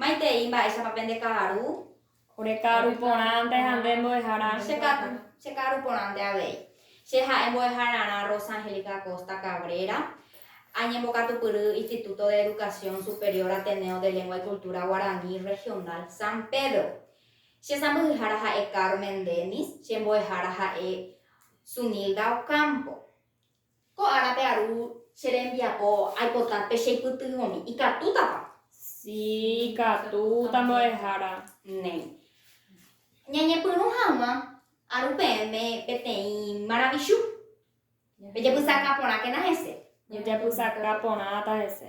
Maitei mba'éichapa pende ka'aru. Ore ka'aru porãnte ha nde mbo'ehára. Che ka'aru, che ka'aru porãnte avei. Che ha'e mbo'ehararã Rosa Angélica Acosta Cabrera, añembokatupyry Instituto de Educación Superior Ateneo de Lengua y Cultura Guaraní Regional San Pedro. Che sãmbyhyhára ha'e Carmen Dennis, che mbo'ehára ha'e Zunilda Ocampo. Ko árape aru che rembiapo aipota pe cheipytyvõmi. Ikatútapa? Sí, ikatúta mbo'ehára. Néi. Ñañepyrũ hag̃ua aru peẽme peteĩ maravichu. Pejapysaka porãkena hese. Jajapysaka porãta hese.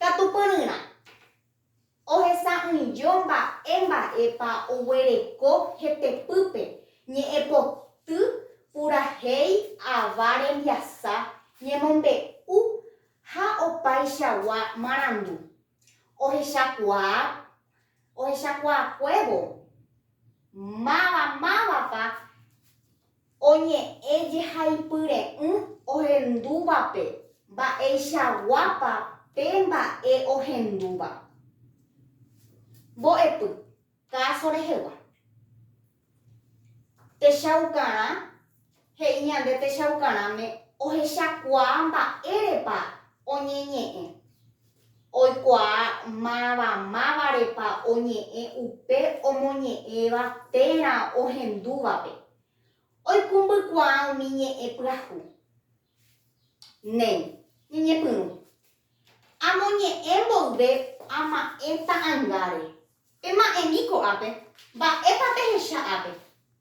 Katu pyryrã, ohesa'ỹijo mba'e mba'épa oguereko hetepýpe, ñe'ẽpoty purahéi ava rembiasa, ñemombe'u ha opaichagua marandu. Ohechakuaa ohechakuaakuévo máva mávapa Oñe'ẽ jehaipyre'ỹ ohendúvape mba'eichaguápa pe mba'e ohendúva. Mbo'epy, káso rehegua. Techaukarã, he'i ñande techaukarãme ohechakuaa mba'érepa oñeñe'ẽ. Oikuaa mavamávarepa oñe'ẽ upe omoñe'ẽva térã ohendúvape. Oikũmbykuaa umi ñe'ẽ pyahu. Néi, ñeñepyrũ. Amoñe'ẽ mboyve ama'ẽ ta'angáre. Pema'ẽmi ko'ápe. Mba'épa pehecha ápe?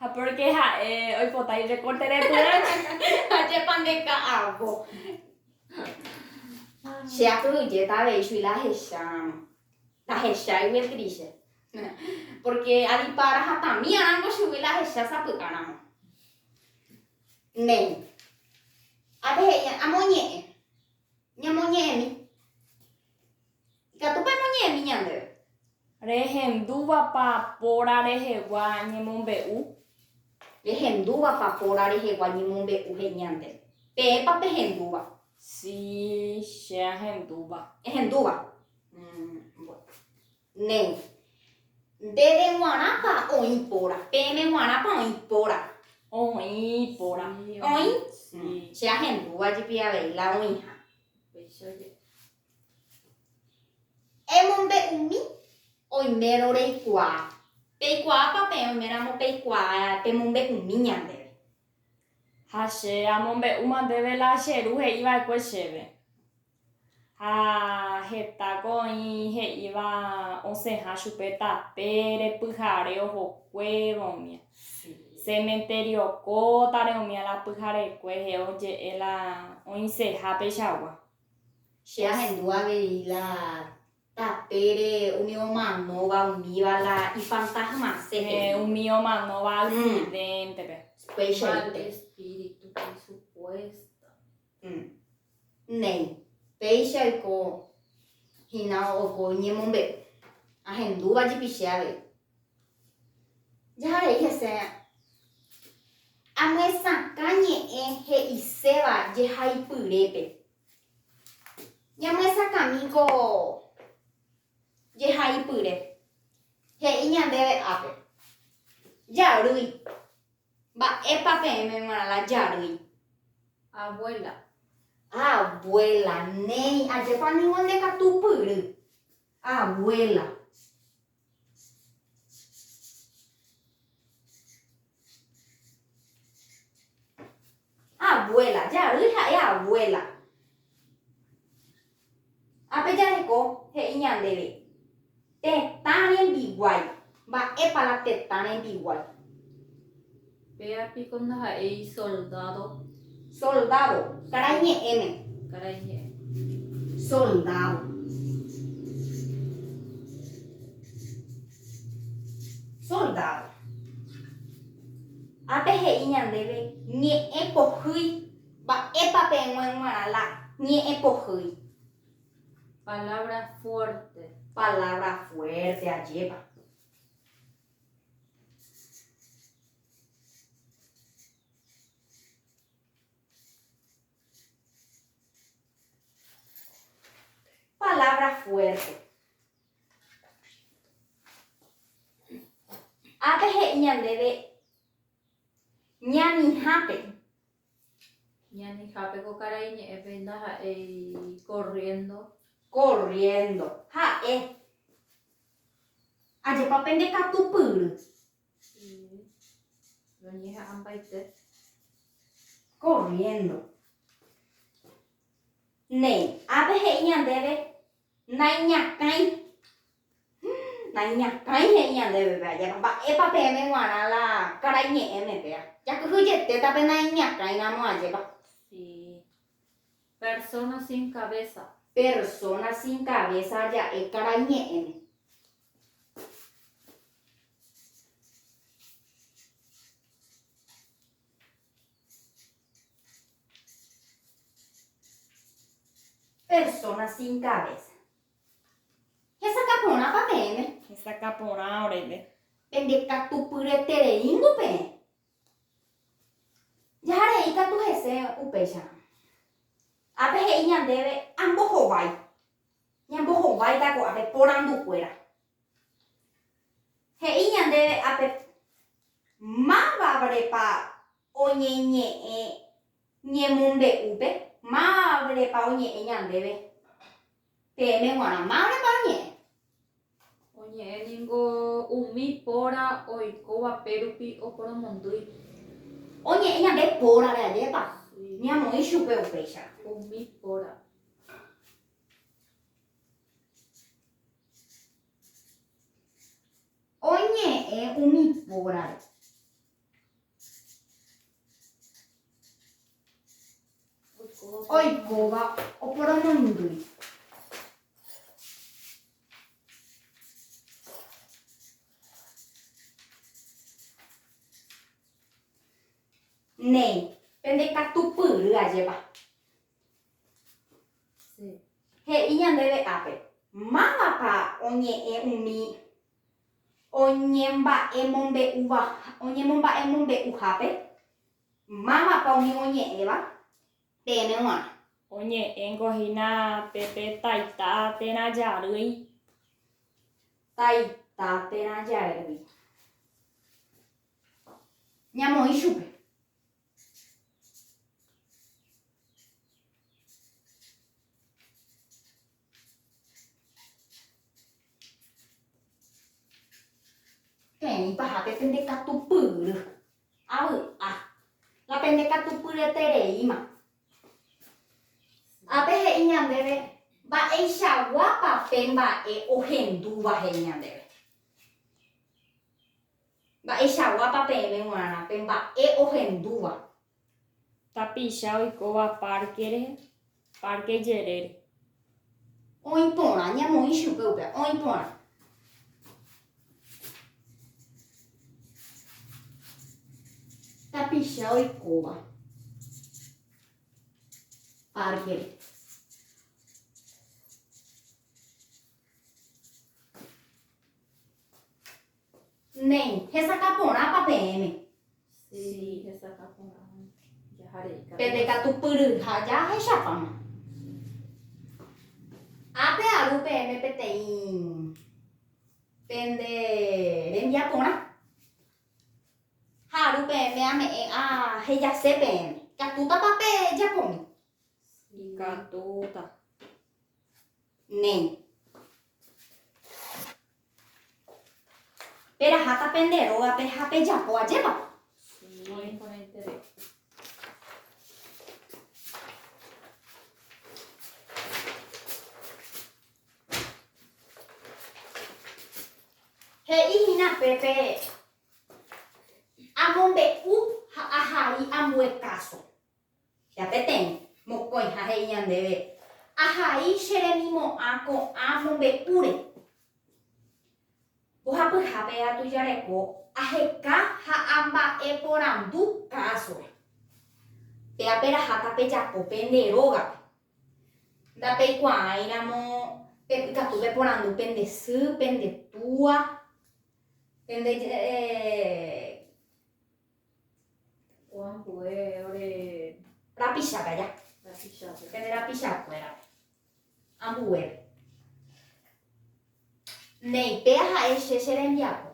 Ha pórke ha'e oipota irekórte repy'año. Ajépa nde ka'avo. Che apyhyjéta avei chugui la ahecháramo. Ndahecháigui el triste. Pórke adipa rahatãmi arãngo chugui la ahecha sapy'áramo. Néi. Ape he'i amoñe'ẽ. Ñamoñe'ẽmi. Ikatúpa noñe'ẽmi ñandéve? Rehendúvapa póra rehegua ñemombe'u? Rehendúvapa póra rehegua ñemombe'u he'i ñande? Peẽpa pehendúva? Si, che ahendúva. Ehendúva? Mmm. Néi. Ndéve g̃uarãpa oĩ póra? Peẽme g̃uarãpa oĩ póra? Oĩ póra. Oĩ? Si. Che ahendúva jepi avei la oĩha. Upéicha jepi. Emombe'umi oimérõ reikuaa. Peikuaápa peẽ oiméramo peikuaa pemombe'umi ñandéve. Ha che amombe'úma ndéve la che ru he'i va'ekue chéve. Ha hetáko oĩ he'íva osẽha chupe tape repyhare ohokuévo umía. Cementerio kótare umía la pyharekue, he'o je'e la oĩseha peichagua. Che ahendu avei la tapére umi omanóva umíva la ifantasmase he'i. Eh, umi omanóva accidente-pe. Mm. Upéichaite. Mal espíritu pe supuesto. Mm. Néi, péicha oiko hína oiko ñemombe'u. Ahendúva jepi che avei. Jaha he'i hese, Amyesakã ñe'ẽ he'iséva jehaipyrépe. Ñamyesakãmíko jehaipyre. He'i ñandéve ápe, Jarýi. Mba'épa peẽme g̃uarãla jarýi? Abuela. Abuela, néi, ajépa ningo ndekatupyry. Abuela. Abuela. Jarýi ha'e abuela. Ápe jareko he'i ñandéve, tetã rembiguái. Mba'épa la tetã rembiguái? Péa piko ndaha'éi soldádo. Soldádo, karai ñe'ẽme. Karai ñe'ẽ. Soldádo. Soldádo. Ha pehe'i ñandéve ñe'ẽ pohýi. Mba'épa peẽngue g̃uarã la ñe'ẽ pohýi? Palabra fuerte. Palabra fuerte, ajépa. Palabra fuerte. Ápe he'i ñandéve ñamihápe Ñanehápe ko karai ñe'ẽpe ndaha'éi corriendo. Corriendo. Ha'e. Ajépa pende katupyry. Sí. Roñeha'ãmbaite. Corriendo. Néi, ápe he'i ñandéve. Naiñakãi. Naiñakãi he'i ñandéve pe ajépa, mba'épa peẽme g̃uarã la karai ñe'ẽme péva. Jakyhyj jetéta pe naiñakãi ramo ajépa. Sí. Persona sin cabeza. Persona sin cabeza ja'e karai ñe'ẽme. Persona sin cabeza. Hesakã porãpa peẽme? Hesakã porã oréve. Pendekatupyretereíngo peẽ. Jahare ikatu hese upéicharõ. Ápe he'i ñandéve ambohovái. Ñambohováita ko'ápe porandukuéra. He'i ñandéve ápe py. Mávavrepa oñeñe'ẽ ñemombe'úpe? Mávavrepa oñe'ẽ ñandéve? Peẽme g̃uarã, mávrepa oñe'ẽ? Oñe'ẽ ningo umi póra oikóva pérupi oporomondýi. Oñe'ẽ ñande pórare ajépa ñamoĩ chupe upéicha. Umi póra. Oñe'ẽ umi pórare. Oikóva oporomoindy. Néi, pende katupyry ajépa. He'i ñandéve ápe, Mávapa oñe'ẽ umi oñemomba'emombe'uhápe? Mávapa umi oñe'ẽva peẽme g̃uarã? Oñe'ẽngo hína pe pe taita térã jarýi. Taita térã jarýi. Ñamoĩ chupe. Peẽ paha pe pende katupyry avy'a, la pende katupyretereíma. Ápe he'i ñandéve mba'eichaguápa pe mba'e ohendúva he'i ñandéve. Mba'eichaguápa peẽme g̃uarã pe mba'e ohendúva? Tapicha oikóva párkere, párke jerére. Oĩ porã, ñamoĩ chupe upéva, oĩ porã. Tapicha oikóva párkere. Néi, hesakã porãpa peẽme? Sí, hesakã porã. Jahareika. Pepe katu pyryha jahechapáma. Ápe aru peẽme peteĩ pende rembia porã. Ha aru peẽme ame'ẽ ahejase peẽme. Ikatútapa pejapomi? Ikatúta. Ne. Peraháta pende rógape ha pejapo ajépa? Muy imponente de. He'i hína pépe amombe'u ha ahai ambue káso. Ya peteĩ, mokõiha he'i ñandéve, Ahai che remimo'ã ko'ã mombe'úre. Mbohapyhápe atujareko aheka ha amba'e porandu káasore. Péa peraha tapejapo pende rógape. Ndapeikuaáiramo pepykatu peporandu pende sy, pende túa, pende eh, Oambue ore rapicha kaja. Rapicha. Pende rapicha kuéra. Ambue. Neipe ha'e che che rembiapo.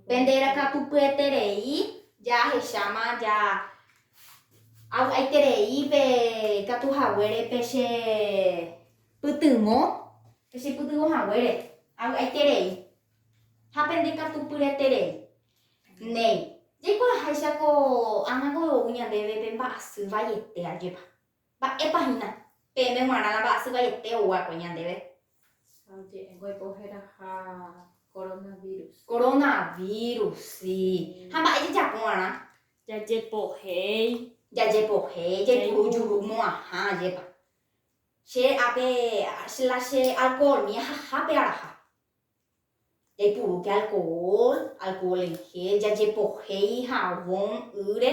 Pende rakatu pyeterei ya hechama ya aiterei pe katu haguere pe che pytyvõ, pe che pytyvõ haguere. Aiterei. Ha pende katu pyreterei. Néi, jaikuaaháicha ko ág̃a goyvou ñandéve pe mba'asy vaiete ajépa. Mba'épa hína, peẽme g̃uarã la mba'asy vaiete ou va'ekue ñandéve. Ha oje'éngo oiko heraha koronavírus. Koronavírus, si. Ha mba'e jajapo va'erã? Jajepohéi. Jajepohéi, jaipuru juru mo'ãha ajépa. Che ápe la che alcohol mi ahaha pe araha. Jaipurúke alcohol, alcohol en gel, jajepohéi javon ýre,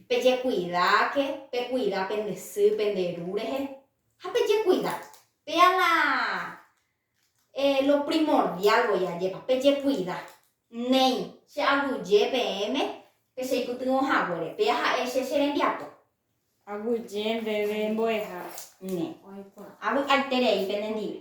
pejekuidáke, pekuida pende sy, pende ru rehe, ha pejekuida. Péa la lo primordial voi ajépa, pejekuida. Néi, che aguyje peẽme pecheipytyvõ haguére, péa ha'e che che rembiapo. Aguyje ndéve mbo'eha. Ne. Oĩ porã. Avy'aiterei pene ndive.